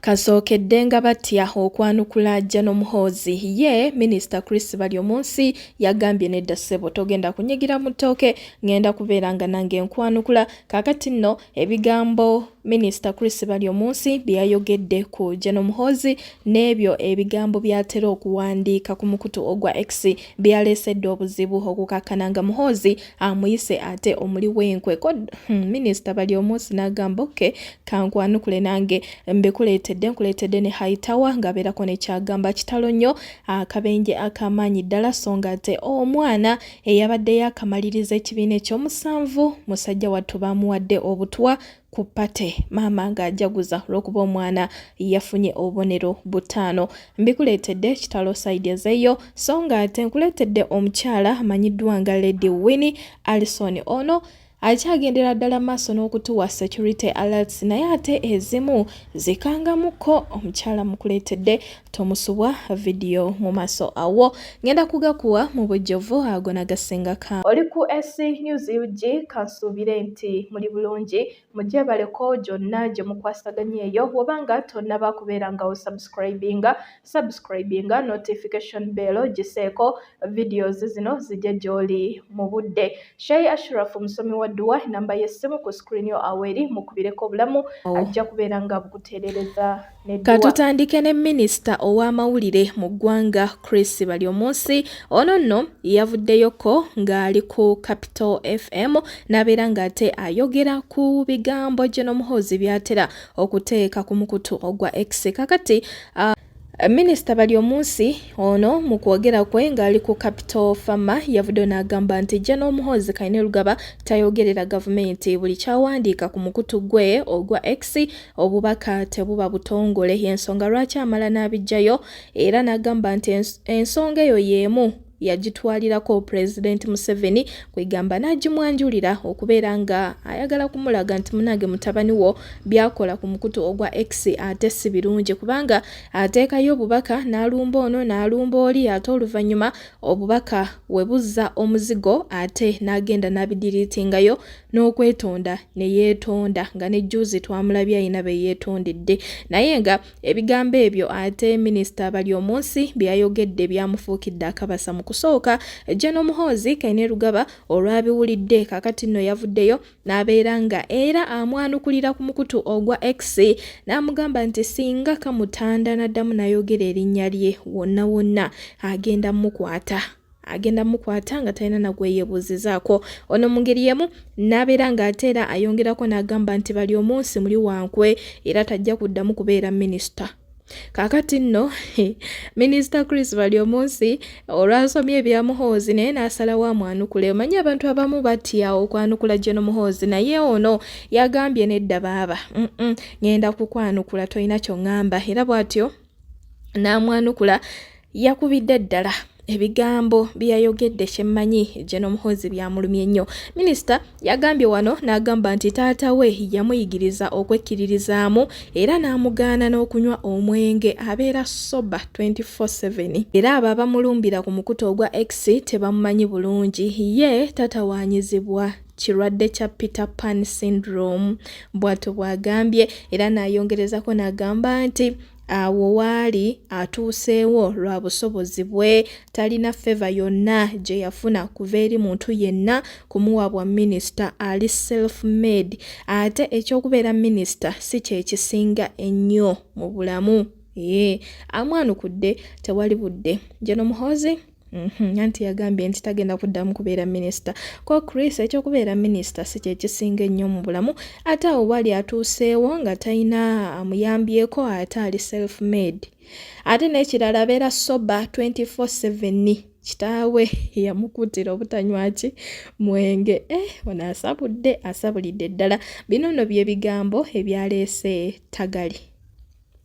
Kasookedde nga batya okwanukula Jano Muhoozi ye minisita Chris Baryomunsi yagambye nedda ssebo togenda kunyigira mu ttooke ngenda kubeera nga nange nkwanukula kaakati nno ebigambo minisita Chris Baryomunsi bye yayogedde ku Jano Muhoozi n'ebyo ebigambo by'atera okuwandiika ku mukutu ogwa X byaleesedde obuzibu okukakkana nga Muhoozi amuyise ate omuli wenkwe ko hmm, minisita bali omunsi n'agamba oke kankwanukule nange mbikuleetedde nkuleetedde ne haitawa ng'abeerako nekyagamba kitalo nnyo akabenje akamaanyi ddala so nga ate omwana eyabadde yakamaliriza ekibiina ekyomusanvu musajja wattu baamuwadde obutwa ku pate maama ng'ajaguza olw'okuba omwana yafunye obubonero butaano mbikuleetedde kitalo saidi ezeeyo so nga ate nkuleetedde omukyala amanyiddwa nga lady winni alison ono akyagendera ddala maaso n'okutuwa security alerts naye ate ezimu zikangamukko omukyala mukuleetedde tomusubwa video mu maso awo ngenda kugakuwa mu bujjovu ago nagasinga ka oli ku ac news ug kansuubire nti muli bulungi mugyebaleko gyonna gye mukwasaganya eyo wobanga tonnaba kubeera nga wo subscribinga subscribinga notification bell giseeko videos zino zijja gy'oli mu budde shei ashraf musomi wa dduwa enamba y'essimu ku screen yo awo eri mukubireko obulamu oh. ajja kubeera nga bukuteerereza Katutandike ne minisita ow'amawulire mu ggwanga Chris Baryomunsi ono nno yavuddeyoko ng'ali ku Capital FM n'abeera ng'ate ayogera ku bigambo Gen Muhoozi by'atera okuteeka ku mukutu ogwa X kakati uh, Minisita Baryomunsi ono mu kwogera kwe ng'ali ku Capital Farmer yavuddeyo n'agamba nti jja n'omuhoozi Kainerugaba tayogerera gavumenti buli kyawandiika ku mukutu gwe ogwa X obubaka tebuba butongole y'ensonga lwaki amala n'abijjayo era n'agamba nti ensonga eyo y'emu yagitwalirako pulezidenti museveni kwegamba n'agimwanjulira okubeera nga ayagala kumulaga nti munange mutabani wo byakola ku mukutu ogwa x ate si birungi kubanga ateekayo obubaka n'alumba ono n'alumba oli ate oluvannyuma obubaka we buzza omuzigo ate n'agenda n'abidiriitingayo n'okwetonda ne yeetonda nga ne juuzi twamulabye alina be yeetondedde naye nga ebigambo ebyo ate minisita bali omunsi bye yayogedde byamufuukidde akabasa mu kusooka Jeno Muhoozi Kainerugaba olwabiwulidde kakati nno yavuddeyo n'abeera nga era amwanukulira ku mukutu ogwa X n'amugamba nti singa kamutanda n'addamu n'ayogera erinnya lye wonna wonna agenda mukwata. agenda mukwata nga talina nagweyebuuzizaako ono mu ngeri yemu n'abeera ng'ate era ayongerako n'agamba nti bali omunsi muli wankwe era tajja kuddamu kubeera minisita kakati nno minisita chris bali omunsi olwasomye ebya muhoozi naye n'asalawo amwanukule omanyi abantu abamu batya okwanukula gye nomuhoozi naye ono yagambye nedda baaba ngenda kukwanukula tolina kyoŋŋamba era bw'atyo n'amwanukula yakubidde ddala ebigambo byeyayogedde kyemmanyi Gen Muhoozi byamulumye nnyo. Minisita yagambye wano n'agamba nti taata we yamuyigiriza okwekkiririzaamu era n'amugaana n'okunywa omwenge abeera soba 24/7 era abo abamulumbira ku mukutu ogwa X tebamumanyi bulungi ye tatawaanyizibwa. kirwadde kya Peter Pan syndrome bw'atyo bw'agambye era n'ayongerezako n'agamba nti awo waali atuuseewo lwa busobozi bwe talina feva yonna gye yafuna kuva eri muntu yenna kumuwa bwa minisita ali self made ate eky'okubeera minisita si kyekisinga ennyo mu bulamu ee amwanukudde tewali budde Gen Muhoozi Mhm, anti yagambye nti tagenda kuddamu kubeera minisita ko chris ekyokubeera minisita si kyekisinga ennyo mu bulamu ate awo bwali atuuseewo nga talina amuyambyeko ate ali self made ate n'ekirala abeera soba 24/7 kitaawe yamukuutira obutanywaki mwenge eh, ono asabudde asabulidde ddala bino no byebigambo ebyaleese tagali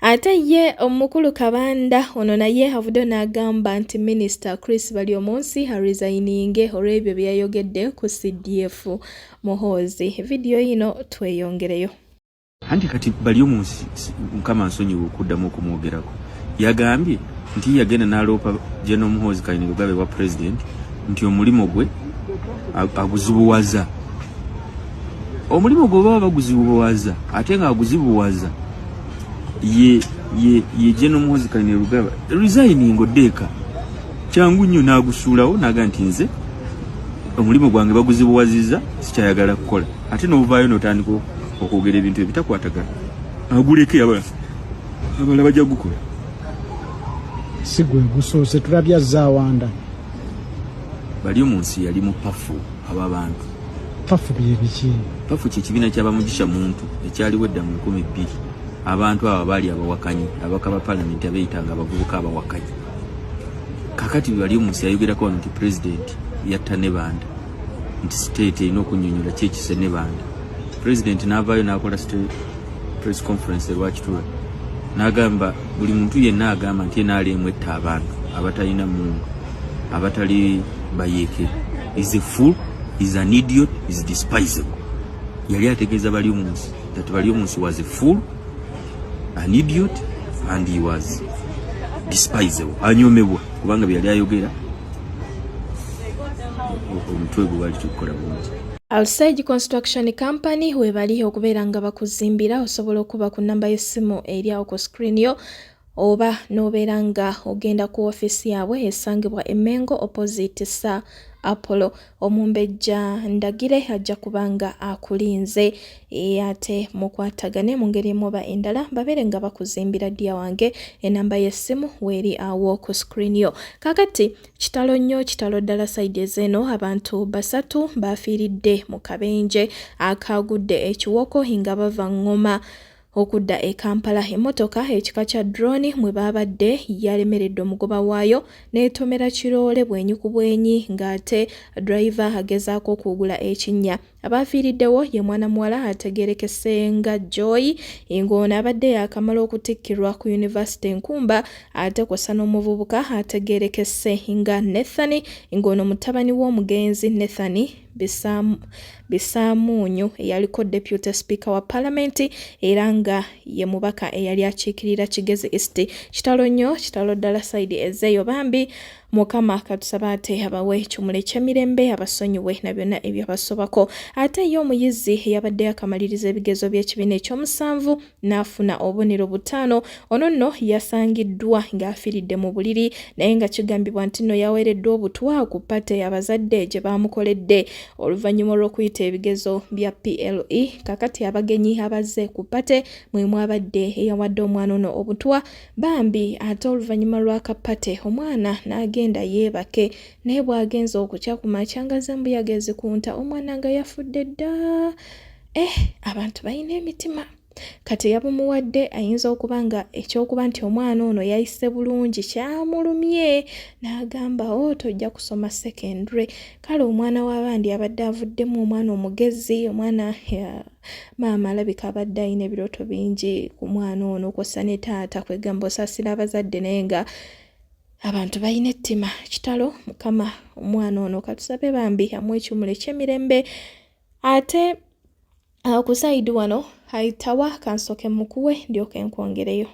Ate ye omukulu Kabanda ono naye avuddeyo n'agamba nti minisita Chris Baryomunsi arizayininge olw'ebyo bye yayogedde ku CDF Muhoozi. Vidiyo yino tweyongereyo. Anti kati Baryomunsi mukama nsonyiwa okuddamu okumwogerako yagambye nti yagenda n'aloopa General Muhoozi Kainerugaba ewa pulezidenti nti omulimu gwe aguzibuwaza. omulimu gwe baba baguzibuwaza ate nga aguzibuwaza ye ye ye jeno muhozi kalina rugaba resigning odeka kyangu nnyo nagusuulawo naga nti nze omulimu gwange baguzibuwaziza sikyayagala kukola ate novaayo notandika okwogera ebintu ebitakwatagana aguleke abala abala bajja gukola si gwe gusoose tulabya zawanda bali omu nsi yali mupafu abo abantu pafu byebiki pafu kyekibiina kyabamugisha muntu ekyaliwo edda mu nkumi bbiri abantu abo abaali abawakanyi abaka ba palamenti abeyitanga abavubuka abawakanyi kakati wali omusi ayogerako wano nti pulezidenti yatta ne banda nti state erina okunyonyola kyekise ne banda pulezidenti naavaayo nakola press conference erwakitula nagamba buli muntu yenna agamba nti enaali emu etta abantu abatalina mungu abatali bayeeke is a fool is an idiot is despisable yali ategeeza bali omunsi that bali omunsi was a fool an idiot and he was despisable anyomebwa kubanga byeyali ayogera omutwe gwe wali tukukola bulungi Alsage Construction Company webali okubeera nga bakuzimbira osobola okuba ku namba y'essimu eri awo ku screen yo oba n'obeera nga ogenda ku ofiisi yaabwe esangibwa emengo opposite sa apollo omumbejja ndagire ajja kuba nga akulinze e, ate mukwatagane mu ngeri emuba endala babeere nga bakuzimbira ddiya wange enamba y'essimu weeri awo ku screen yo kakati Kitalo nnyo kitalo ddala sayidi ezeeno abantu basatu baafiiridde mu kabenje akaagudde ekiwoko nga bava ngoma okudda e Kampala emmotoka ekika kya drone mwe baabadde yalemeredde omugoba waayo n'etomera kiroole bwenyi ku bwenyi ng'ate driver agezaako okuwugula ekinnya Abaafiiriddewo ye mwana muwala ategeerekese nga Joy ng'ono abadde yaakamala okutikkirwa ku yunivasite Nkumba ate kw'ossa n'omuvubuka ategeerekese nga Nathan ng'ono mutabani w'omugenzi Nathan Bisaamuunyu eyaliko Deputy Speaker wa Palamenti era nga ye mubaka eyali akiikirira Kigezi East. Kitalo nnyo, kitalo ddala sayidi ezeeyo bambi. mukama katusaba ate abawe ekimuli ekyemirembe abasonyiwe na byonna ebyabasobako ate ye omuyizi eyabadde akamaliriza ebigezo by'ekibiina ekyomusanvu n'afuna obubonero butaano ono nno yasangiddwa ng'afiridde mu buliri naye nga kigambibwa nti nno yaweereddwa obutwa ku pate abazadde gye baamukoledde oluvannyuma olw'okuyita ebigezo bya ple kakati abagenyi abazze ku pate mwe mwabadde eyawadde omwana ono obutwa Bambi ate oluvannyuma lwa kapate omwana n'agenda yeebake naye bw'agenze okukya ku makya nga zambuyaga ezikunta omwana nga yafudde dda eh abantu balina emitima kati eyabumuwadde ayinza okuba nga ekyokuba nti omwana ono yayise bulungi kyamulumye n'agamba o oh, tojja kusoma secondary kale omwana w'abandi abadde avuddemu omwana omugezi omwana maama alabika abadde alina ebirooto bingi ku mwana ono kwossa ne taata kwegamba osaasira abazadde naye nga abantu balina ettima kitalo mukama omwana ono katusabe bambi amu ekimula ekyemirembe ate uh, ku saidi wano aitawa kansoke mukuwe ndyoka enkwongereyo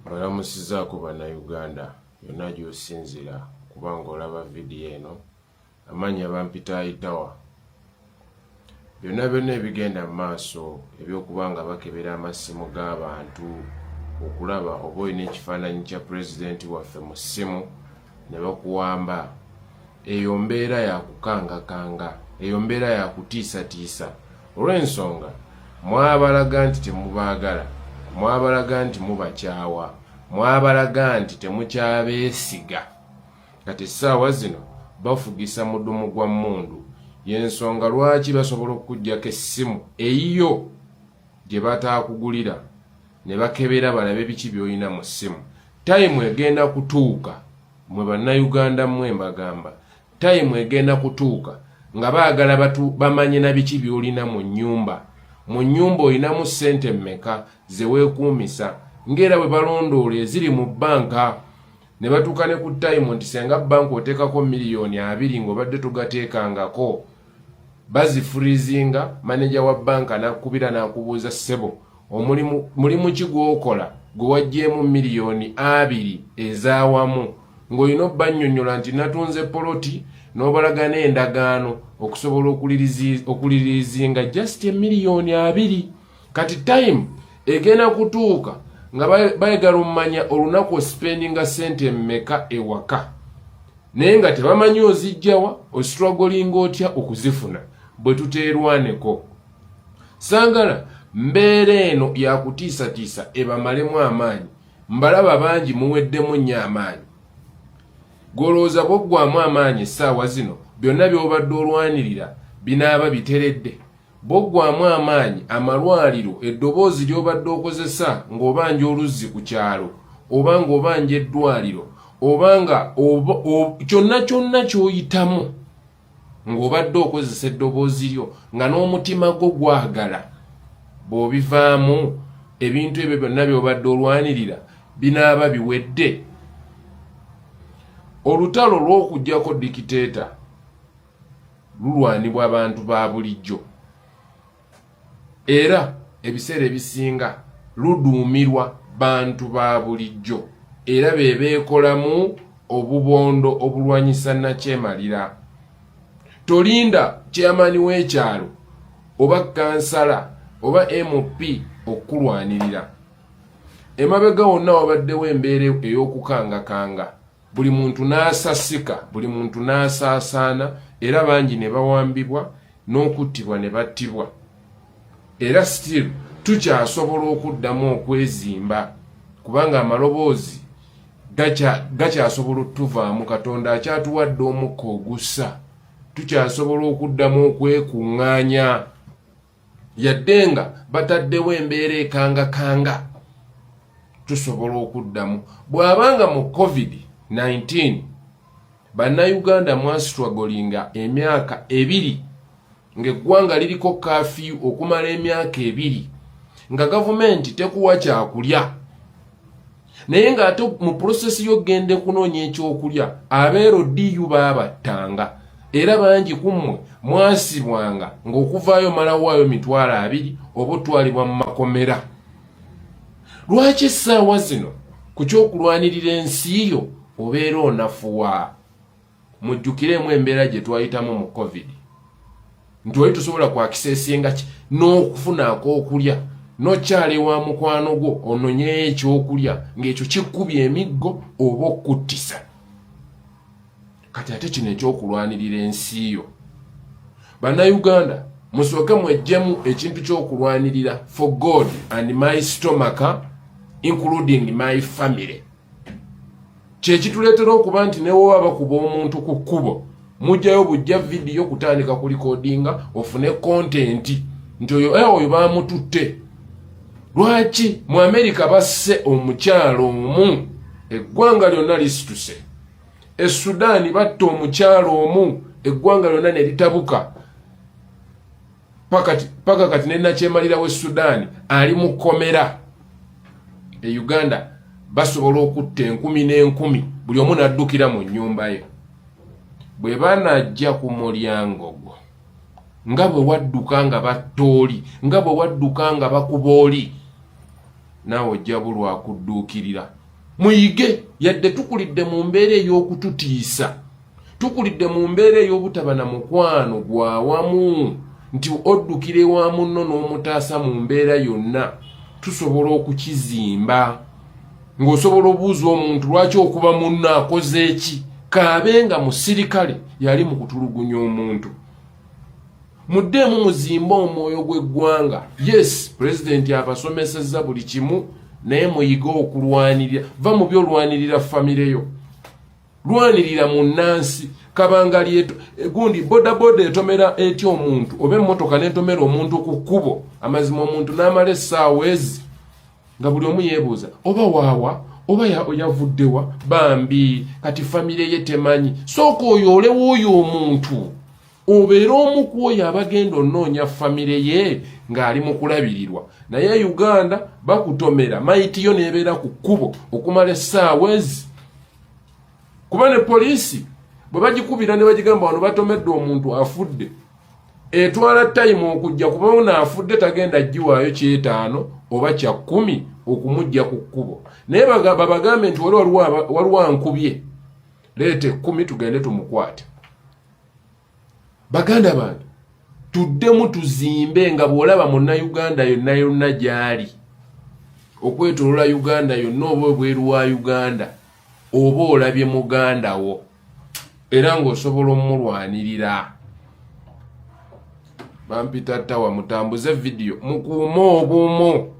mbalamusizaako bannayuganda yonna gy'osinzira okuba ng'olaba vidiyo eno amannya bampita aitawa byonna byonna ebigenda mu maaso ebyokuba nga bakebera amasimu g'abantu okulaba oba olina ekifaananyi kya pulezidenti waffe mu ssimu ne bakuwamba eyo mbeera yakukangakanga eyo mbeera yakutiisatiisa olw'ensonga mwabalaga nti temubaagala mwabalaga nti mubakyawa mwabalaga nti temukyabeesiga kati essaawa zino bafugisa mudumu gwa mmundu y'ensonga lwaki basobola okukuggyako essimu eyiyo gye bataakugulira ne bakebera balabe biki byolina mu ssimu tayimu egenda kutuuka mwe bannayuganda mmwe mbagamba tayimu egenda kutuuka nga baagala batu bamanye na biki byolina mu nnyumba mu nnyumba olinamu ssente mmeka ze weekuumisa ng'era bwe balondoola eziri mu bbanka ne batuuka ne ku tayimu nti senga bbanka oteekako miliyoni abiri ng'obadde togateekangako bazifurizinga maneja wa banka nakubira nakubuuza sebo omulimu ki gwokola gwewajjeemu miliyoni abiri ezawamu ng'olina obbanyonyola nti natunze poloti n'obalagana endagaano okusobola okulirizinga just emiliyoni abiri kati time egenda kutuuka nga bayagala omumanya olunaku ospendinga sente mmeka ewaka naye nga tebamanyi ozijjawa ostragolinga otya okuzifuna bwe tuteerwaneko sangala mbeera eno yakutiisatiisa ebamalemu amaanyi mbalaba bangi muweddemu nnyo amaanyi golowooza bwoggwamu amaanyi essaawa zino byonna byobadde olwanirira binaaba biteredde Boggwamu amaanyi amalwaliro eddoboozi ly'obadde okozesa ng'obanja oluzzi ku kyalo oba ng'obanja eddwaliro oba nga kyonna kyonna ky'oyitamu ng'obadde okozesa eddoboozi lyo nga n'omutima gwo gwagala bw'obivaamu ebintu ebyo byonna by'obadde olwanirira binaaba biwedde olutalo lw'okugyako dikiteeta lulwanibwa bantu ba bulijjo era ebiseera ebisinga luduumirwa bantu ba bulijjo era be beekolamu obubondo obulwanyisa nakyemalira tolinda kyeyamaani w'ekyalo oba kansala oba mp okukulwanirira emabega wonna wabaddewo embeera ey'okukangakanga buli muntu n'asasika buli muntu n'asaasaana era bangi ne bawambibwa n'okuttibwa ne battibwa era still tukyasobola okuddamu okwezimba kubanga amaloboozi gakyasobola otuvaamu katonda akyatuwadde omukka ogussa tukyasobola okuddamu okwekuŋŋaanya yadde nga bataddewo embeera ekangakanga tusobola okuddamu bw'aba nga mu covid-19 bannayuganda mwasitwagolinga emyaka ebiri ng'eggwanga liriko kafiyu okumala emyaka ebiri nga gavumenti tekuwa kyakulya naye ng'ate mu pulosesi y'okugenda okunoonya ekyokulya abeero diyu baabattanga era bangi ku mmwe mwasibwanga ng'okuvaayo malawaayo mitwalo abiri oba otwalibwa mu makomera lwaki essaawa zino ku ky'okulwanirira ensi yo obeera onafuwa mujjukireemu embeera gye twayitamu mu covid nti oli tusobola kwakisa esinga ki n'okufunaako okulya nokyala ewa mukwano gwo ononyeyo ekyokulya ng'ekyo kikkubya emiggo oba okuttisa kati ate kino ekyokulwanirira ensi yo bannayuganda musooke mwejjemu ekintu kyokulwanirira for god and my stomaka including my family kyekituleetera okuba nti newoba bakuba omuntu ku kkubo mujjayo bujja vidiyo kutandika ku likodinga ofune kontenti nti oyo eh, oyo bamututte lwaki mu amerika basse omukyalo omu eggwanga lyonna lisituse e sudaani batta omukyalo omu eggwanga lyonna ne litabuka paka kati ne nakyemalira we sudan ali mu komera e uganda basobola okutta enkumi n'enkumi buli omu naddukira mu nyumba ye bwe banajja ku mulyango gwo nga bwe wadduka nga batta oli nga bwe wadduka nga bakuba oli naawe ojja bulwakudduukirira muyige yadde tukulidde mu mbeera ey'okututiisa tukulidde mu mbeera ey'obutaba na mukwano gwa wamu nti oddukira ewa munno n'omutaasa mu mbeera yonna tusobola okukizimba ng'osobola obuuza omuntu lwaki okuba munno akoze eki kaabe nga musirikale yali mu kutulugunya omuntu muddeemu muzimbe omwoyo gw'eggwanga yes pulezidenti abasomesezza buli kimu naye muyige okulwanirira va mu byolwanirira famireyo lwanirira munnansi kabanga lyeto gundi bodaboda etomera etya omuntu oba emmotoka netomera omuntu ku kkubo amazima omuntu n'amala essaawa ezi nga buli omu yeebuuza oba waawa oba yavuddewa bambi kati famire ye temanyi sooka oyo olewo oyo omuntu obeera omu ku oyo abagenda onoonya famire ye ng'ali mu kulabirirwa naye e uganda bakutomera mayitiyo neebeera ku kkubo okumala essaawa ezi kuba ne poliisi bwe bagikubira ne bagigamba wano batomedde omuntu afudde etwala tayimu okujja kuba ono afudde tagenda giwaayo kyetaano oba kya kkumi okumujja ku kkubo naye babagambe nti wali waliwankubye leeta ekkumi tugende tumukwate baganda bange tuddemu tuzimbe nga bw'olaba munna uganda yonna yonna gy'ali okwetolola uganda yonna oba obweru wa uganda oba olabye muganda wo era ng'osobola omumulwanirira bampita tawa mutambuze vidiyo mukuume obumu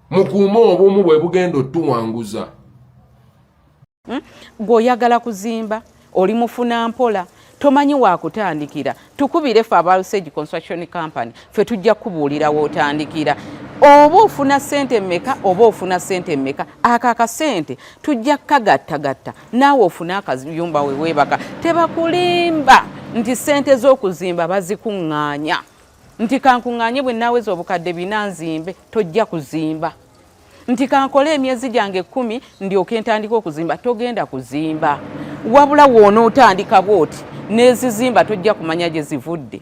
mukuume obumu bwe bugenda otuwanguza hmm? gwe oyagala kuzimba oli mufuna mpola tomanyi wakutandikira tukubire fe aba usage construction company fe tujja kubuulira wotandikira oba ofuna sente meka oba ofuna sente meka ako akasente tujja kukagattagatta naawe ofune akayumba weweebaka tebakulimba nti sente z'okuzimba bazikuŋŋaanya nti kankuŋŋaanye bwe naaweza obukadde bina nzimbe tojja kuzimba nti kankole emyezi gyange kumi ndyoke ntandika okuzimba togenda kuzimba wabula woona otandika bwoti nezizimba tojja kumanya gye zivudde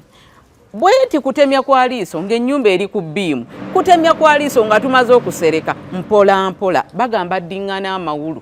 bwenti kutemya kwa liiso ng'ennyumba eri ku biimu kutemya kwa liiso nga tumaze okusereka mpola mpola bagamba ddingana amawulu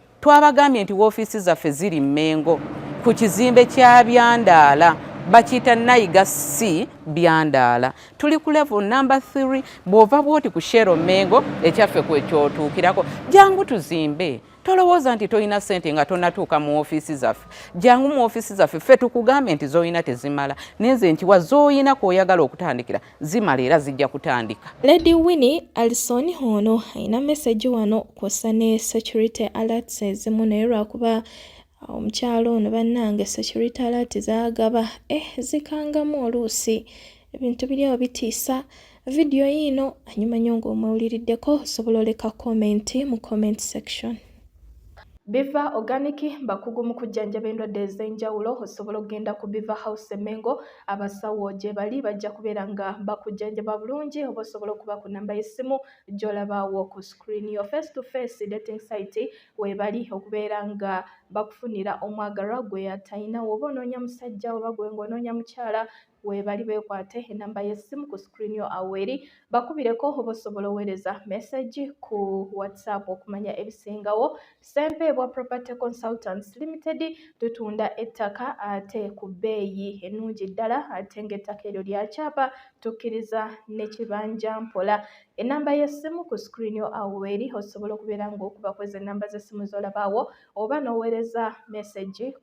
Twabagambye nti woofiisi zaffe ziri Mmengo ku kizimbe kya Byandaala bakiyita nayiga si byandaala tuli ku level number 3 bw'ova bwoti ku shero mengo ekyaffe kwekyotuukirako jangu tuzimbe tolowooza nti tolina sente nga tonatuuka mu ofiisi zaffe jangu mu ofiisi zaffe ffe tukugambe nti zolina tezimala nenze nti wa zolina kwoyagala okutandikira zimala era zijja kutandika. Lady Winnie Alison ono alina message wano kwossa ne security alerts ezimu naye lwakuba uh, omukyalo ono bannange security alert zagaba eh zikangamu oluusi ebintu biri awo bitiisa vidiyo yiino anyuma nyo ng'omwewuliriddeko osobola oleka komenti mu comment section biva organic bakugu mu kujjanjaba endwadde ez'enjawulo osobola okugenda ku biva house emengo abasawo gyebali bajja kubeera nga bakujjanjaba bulungi oba osobola okuba ku namba y'essimu gy'olabaawo ku screen yo face to face dating site webali okubeera nga bakufunira omwagalwa gwe atalina woba onoonya musajja oba gwe ng'onoonya mukyala webali bekwate enamba y'essimu ku screen yo aweri bakubireko oba osobola oweereza message ku whatsapp okumanya ebisingawo Ssempeebwa Property Consultants Limited tutunda ettaka ate ku bbeeyi ennungi ddala ate ng'ettaka eryo lya kyapa tukkiriza ne kibanja mpola. Ennamba y'essimu ku sikirini yo awo weeri osobola okubeera ng'okuba kwezi ennamba z'essimu z'olabaawo oba n'oweereza mesegi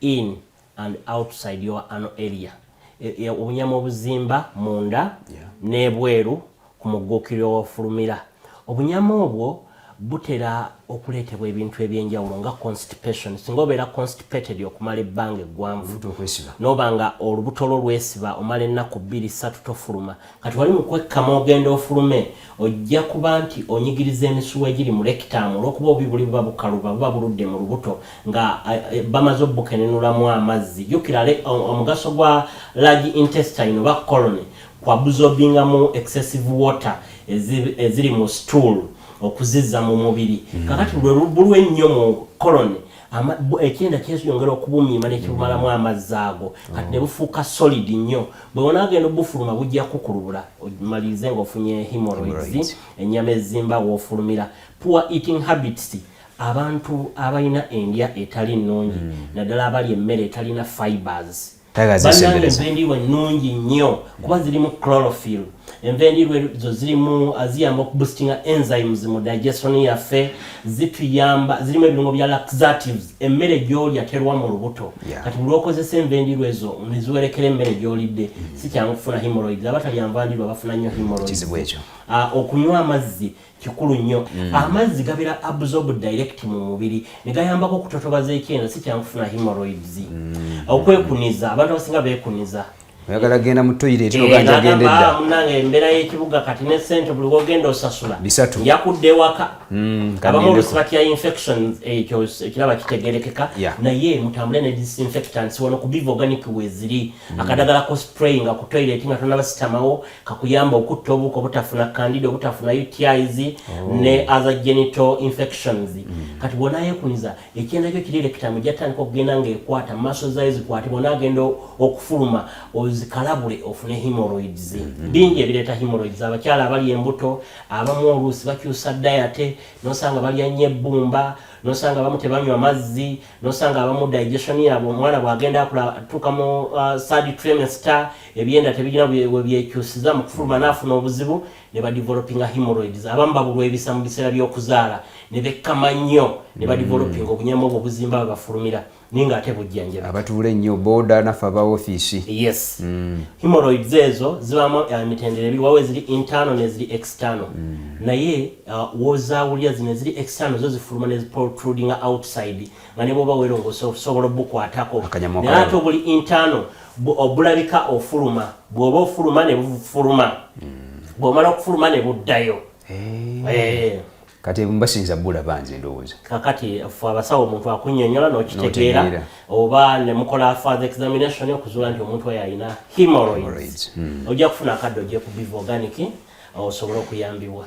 in and outside your ano area e, e, obunyama obuzimba munda yeah. n'ebweru ku mugguukiriro wofulumira obunyama obwo butera okuleetebwa ebintu ebyenjawulo nga constipation singa obeera constipated okumala ebbanga eggwanvu noba nga olubuto lwo lwesiba omala ennaku bbiri satu tofuluma kati wali mukwekkama ogenda ofulume ojja kuba nti onyigiriza emisuwa egiri mu lekitaamu olwokuba obubi buli buba bukaluba buba buludde mu lubuto nga eh, eh, bamaze obukenenulamu amazzi jukira omugaso gwa large intestine oba colony kwabuzobingamu excessive water eziri mu stool okuzizza mu mubiri hmm. kakati buli ennyo mu colony ekyenda kyeyongera okubumiima nekibumalamu mm. amazzi ago mm. kati nebufuuka solid nnyo bwewonagenda obufuluma bujja kukulubula malirize nga ofunye hemoroids enyama ezimba wofulumira poor eating habits abantu abalina endya etali nnungi mm. naddala abali emmere etalina fibers bannange enva endiirwa ennungi nnyo kuba zirimu chlorophyll enva endiirwa ezo zirimu ah, ziyamba okuboostinga enzymes mu digestion yaffe zituyamba zirimu ebirungo bya laxatives emmere gyolya terwa mu lubuto kati bulwokozesa enva endiirwa ezo neziwerekera emmere gyolidde mm. sikyangu kufuna hemorrhoids abatalya nva ndiirwa bafuna nnyo hemorrhoids ah, okunywa amazzi kikulu nnyo mm. amazzi gabera absorb direct mu mubiri negayambako okutotobaza ekyenda si kyangu kufuna hemorrhoids mm. okwekuniza abantu abasinga bekuniza oyagala genda mu toilet eh, oganja genda edda ah, munange embeera y'ekibuga kati ne sente buli wogenda osasula bisatu yakudde ewaka mm, abamu olusi batya infections ekyo ekiraba kitegerekeka naye mutambule ne disinfectants wano ku biva organic weziri mm. akadagala ko spray nga ku toilet nga tonabasitamawo kakuyamba okutta obuko obutafuna candida obutafuna utis oh. ne other genital infections mm. kati bwona yekuniza ekyenda kyo kiri lekitamu jatandika okugenda ngaekwata maso zayo zikwate bwona agenda okufuluma ozikalabule ofune hemorrhoids mm -hmm. bingi ebireeta hemorrhoids abakyala abali embuto abamu oluusi bakyusa dayate nosanga balya nnyo ebbumba nosanga abamu tebanywa mazzi nosanga abamu digestion yabwe omwana bwagenda akula atuuka mu uh, sad trimester ebyenda tebirina webyekyusiza mu kufuluma naafuna obuzibu ne badevelopinga hemorrhoids abamu babulwa ebisa mu biseera by'okuzaala ne bekkama nnyo ne badevelopinga mm. obunyama obwo obuzimba bwe bafulumira naye nga ate bujjanjaba abatuula ennyo booda naffe aba ofiisi yes mm. hemorrhoids ezo zibamu emitendera ebiri wawo eziri internal neziri external mm. naye Uh, wozawulira zino eziri external zo zifuluma ne protruding outside nga ne bwoba werongosa osobola obukwatako naye ate obuli internal obulabika ofuluma bwoba ofuluma ne bufuluma hmm. bwomala okufuluma ne buddayo eh. Eh. kati basinza bulaba nze ndowooza kakati fe abasawo omuntu akunyonyola nokitegeera oba nemukola father examination okuzuula nti omuntu oyo alina hemorrhoids hmm. ojja kufuna akadde ojja kubiva organic osobole okuyambibwa